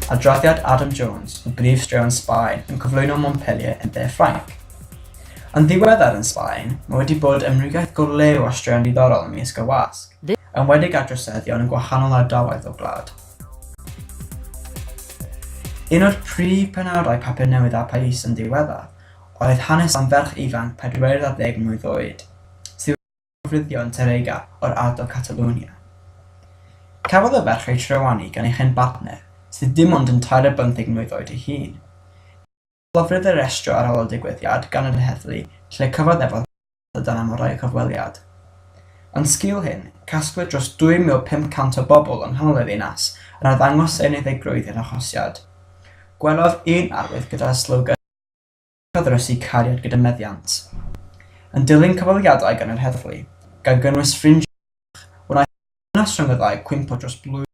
Adroddiad Adam Jones o brif straeon Sbaen yn cyflwyno Montpellier yn De Ffrainc. Yn ddiweddar yn Sbaen, mae wedi bod ymwneud go lew â straeon diddorol ym Mysg y Wasg. enwedig ar droseddion yn gwahanol ardaloedd o'r gwlad. Un o'r prif penawdau Papur Newydd a Phais yn ddiweddar oedd hanes am ferch ifanc 40 mlwydd oed, sydd wedi llofruddio yn Terega o'r ardal Catalunya. Cafodd y ferch ei trywanu gan ei chyn-bartner, sydd dim ond yn tair ar bymtheg mlwydd oed ei hun. Clofrid yr estro ar ôl y digwyddiad gan yr heddlu lle cyfaddefodd y dân am orau y cyfweliad. Yn sgil hyn, casglwyd dros 2,500 o bobl yng nghanol y ddinas yn arddangos eu unigeddigrwydd i'r arhosiad. Gwelodd un arwydd gyda'r slogan 'Cariad a Thrysu Cariad gyda Meddiant'. Yn dilyn cyfweliadau gan yr heddlu, gan gynnwys ffrindiau Gwynfor Goch, wnaeth y Ddynas Rhyng y Ddau gwympo dros blwyddyn.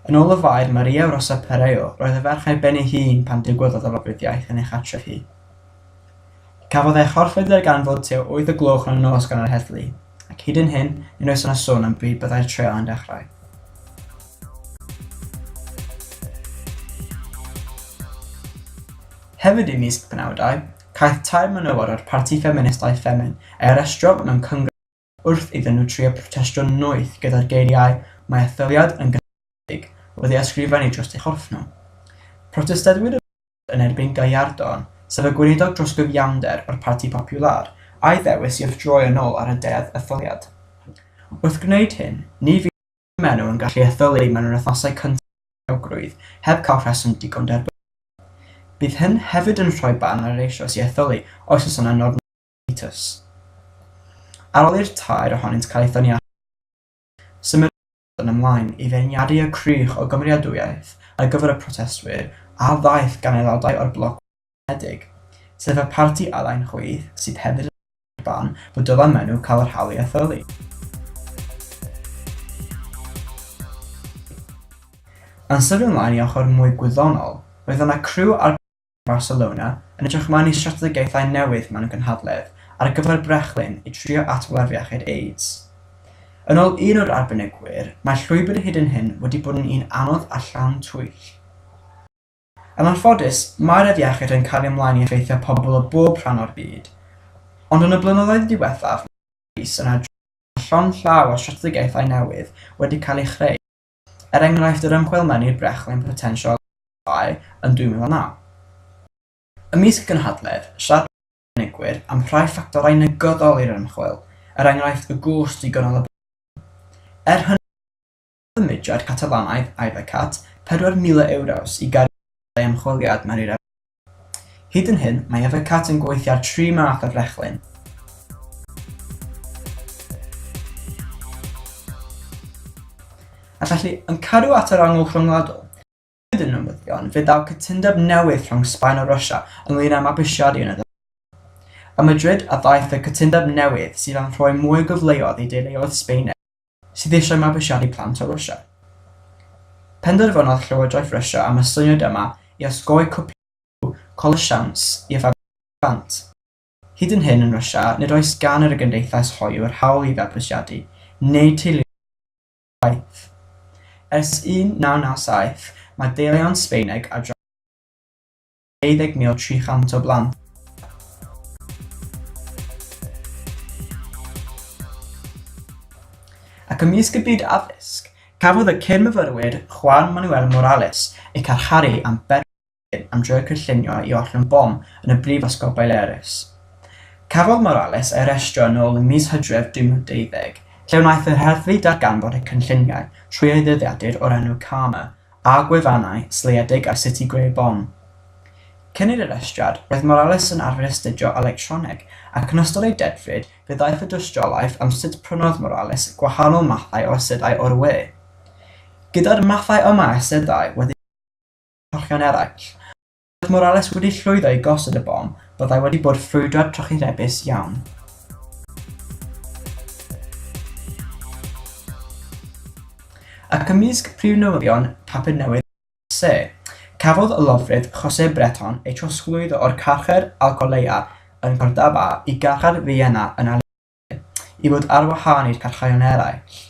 Yn ôl y Faer Maria Rosa Pereio, roedd y ferch ar ben ei hun pan ddigwyddodd y lofruddiaeth yn ei chartref hi. Cafodd ei chorchfyrddio gan fod tua wyth o gloch yn y nos gan yr heddlu, ac hyd yn hyn, nid oes yna sôn am bryd byddai'r treial yn dechrau. Hefyd ym mis y penawdau, caiff tair menywod o'r parti ffeministaidd Ffemin eu harestio mewn cyngerdd Wrth iddyn nhw trio protestio'n noeth gyda'r geiriau 'Mae etholiad yn gynnydd gwledig' wedi ysgrifennu dros eu chorff nhw. Protestadwyr y Blaid yn erbyn Gallardo, sef y gweinidog dros gyfiawnder o'r Parti Popular, a'i ddewis i wrthdroi yn ôl ar y deddf etholiad. Wrth gwneud hyn, ni fydd eu menyw yn gallu etholi mewn yr wythnosau cyntaf o'r rhagrwydd heb cael rheswm digon derbyniol. Bydd hyn hefyd yn rhoi barn ar yr eisoes i etholi os oes yna norma Mitus. Ar ôl i'r tair ohonynt cael eu thynnu allan o'r car, symudwyd y ddyn ymlaen i feirniadu y crych o gymeradwyaeth ar gyfer y protestwyr a ddaeth gan aelodau o'r Bloc Unedig, sef y parti Alun Chwith sydd hefyd yn rhan o'r barn fod dylan maen nhw cael yr hawl i etholi. Yn sydyn ymlaen i ochr mwy gwyddonol, roedd yna criw ar Barcelona, yn edrych ymlaen i strategaethau newydd mewn gynhadledd ar gyfer brechlyn i drio ateb afiechyd AIDS. Yn ôl un o'r arbenigwyr, mae'r llwybr hyd yn hyn wedi bod yn un anodd a llawn twyll. Yn anffodus, mae'r afiechyd yn cario ymlaen i effeithio pobl o bob rhan o'r byd, ond yn y blynyddoedd diwethaf mae Rhys yn adrodd bod llond llaw o strategaethau newydd wedi cael eu chreu. Er enghraifft yr ymchwil Menyw Brechlyn Potensial Llai yn 2009. Ymysg gynhadledd, siaradwyd â chynigwyr am rhai ffactorau negyddol i'r ymchwil, er enghraifft y gost digonol y bwyd. Er hynny, rhoddodd y mudiad Catalanaidd Ivecat €4,000 i gario costau ymchwiliad Menyw Brechlyn. Hyd yn hyn, mae Evercat yn gweithio ar tri math o frechlyn. A felly, yn cadw at yr angl rhyngwladol, hyd yn newyddion, fe ddaw cytundeb newydd rhwng Sbaen a Russia ynglŷn â mabwysiadu yn y dde. Ym Madrid a ddaeth y cytundeb newydd sydd am rhoi mwy o gyfleoedd i deuluoedd Sbaeneg. sydd eisiau mabwysiadu plant o Rwsia. Penderfynodd Llywodraeth Rwsia am y syniad yma i osgoi cwblhau rhyw colur siawns i fabwysiadu plant. Hyd yn hyn yn Rwsia nid oes gan yr gymdeithas hoyw yr hawl i fabwysiadu, neu teuluoedd i fabwysiadu chwaith. Ers 1997 mae deillion Sbaeneg a Dranw yn byw yn Rwsia. Ei ddegmio 300 o blant. Ac ymysg y byd addysg, cafodd y cyn-myfyrwyr Juan Manuel Morales eu carcharu am berygl bywyd am drio'u cynllunio i ollwng bom yn y Brifysgol Baleares. Cafodd Morales ei arestio yn ôl ym mis Hydref 2020, lle wnaeth yr heddlu darganfod eu cynlluniau trwy ei ddyddiadur o'r enw Karma, a gwefannau sleiedig ar sut i greu bom. Cyn i'r arestiad, roedd Morales yn arfer astudio electroneg, ac yn ystod ei dedfryd fe ddaeth y dystiolaeth am sut prynodd Morales gwahanol mathau o asedau o'r we. Gyda'r mathau yma o asedau wedi eu rhoi mewn corchio'n eraill, Roedd Morales wedi llwyddo i gosod y bom, byddai wedi bod ffrwydriad trychinebus iawn. ac ymysg prif newyddion papur newydd se, cafodd y lofrydd Jose Breton ei trosglwyddo o'r carchar Alcolea yn Cordaba i garchar Vienna yn i fod ar wahân i'r cyrhaeddion eraill.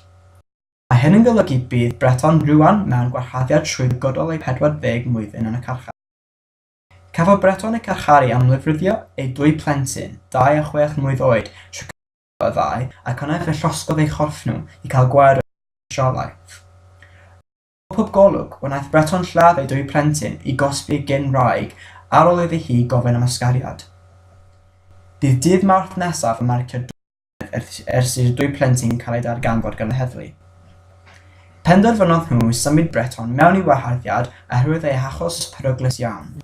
Mae hyn yn golygu bydd Breton rŵan mewn gwahardddiad trwyddgydol eu 40 mlwyddyn yn y carchar. Cafodd Breton eu carcharu am lifruddio eu dwy phlentyn, dau a chwech mlwydd oed, tro cyntaf y ddau, ac yna fe llosgodd eu chorff nhw i cael gwared ar y tystiolaeth. Pob golwg, wnaeth Breton lladd ei dwy phlentyn i gosbi gyn-wraig ar ôl iddi hi gofyn am ysgariad. Bydd dydd Mawrth nesaf yn marcio dwy flynedd ers i'r dwy plentyn cael eu darganfod gan y heddlu. Penderfynodd nhw symud Breton mewn i waharddiad oherwydd ei hachos peryglus iawn.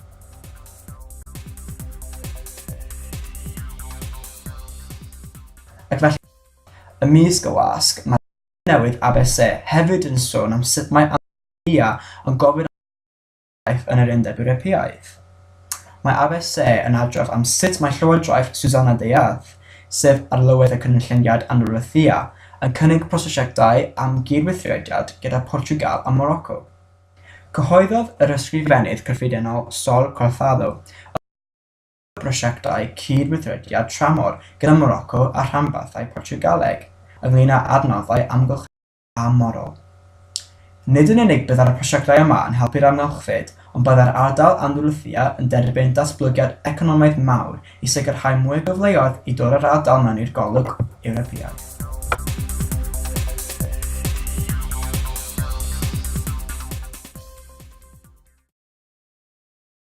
Ac felly, ymysg y wasg, mae newydd Abse hefyd yn sôn am sut mae Antalya yn gofyn am gydnabyddiaeth yn yr Undeb Ewropeaidd. Mae Abse yn adrodd am sut mae llywodraeth Susanna Dayadh, sef Arlywydd y Cynulleidfiad Anwrlithia, yn cynnig prosiectau am gyd-weithrediad gyda Portiwgal a Moroco. Cyhoeddodd yr Ysgrifennydd Cyffredinol Sol Cortado y prosiectau cyd-weithrediad tramor gyda Moroco a rhanbarthau Portiwgaleg ynglŷn â adnoddau amgylcheddol a morol. Nid yn unig byddai'r prosiectau yma yn helpu'r amgylchfyd ond byddai'r ardal Andalusia yn derbyn datblygiad economaidd mawr i sicrhau mwy o gyfleoedd i dod â'r ardal mewn i'r golwg Ewropeaidd.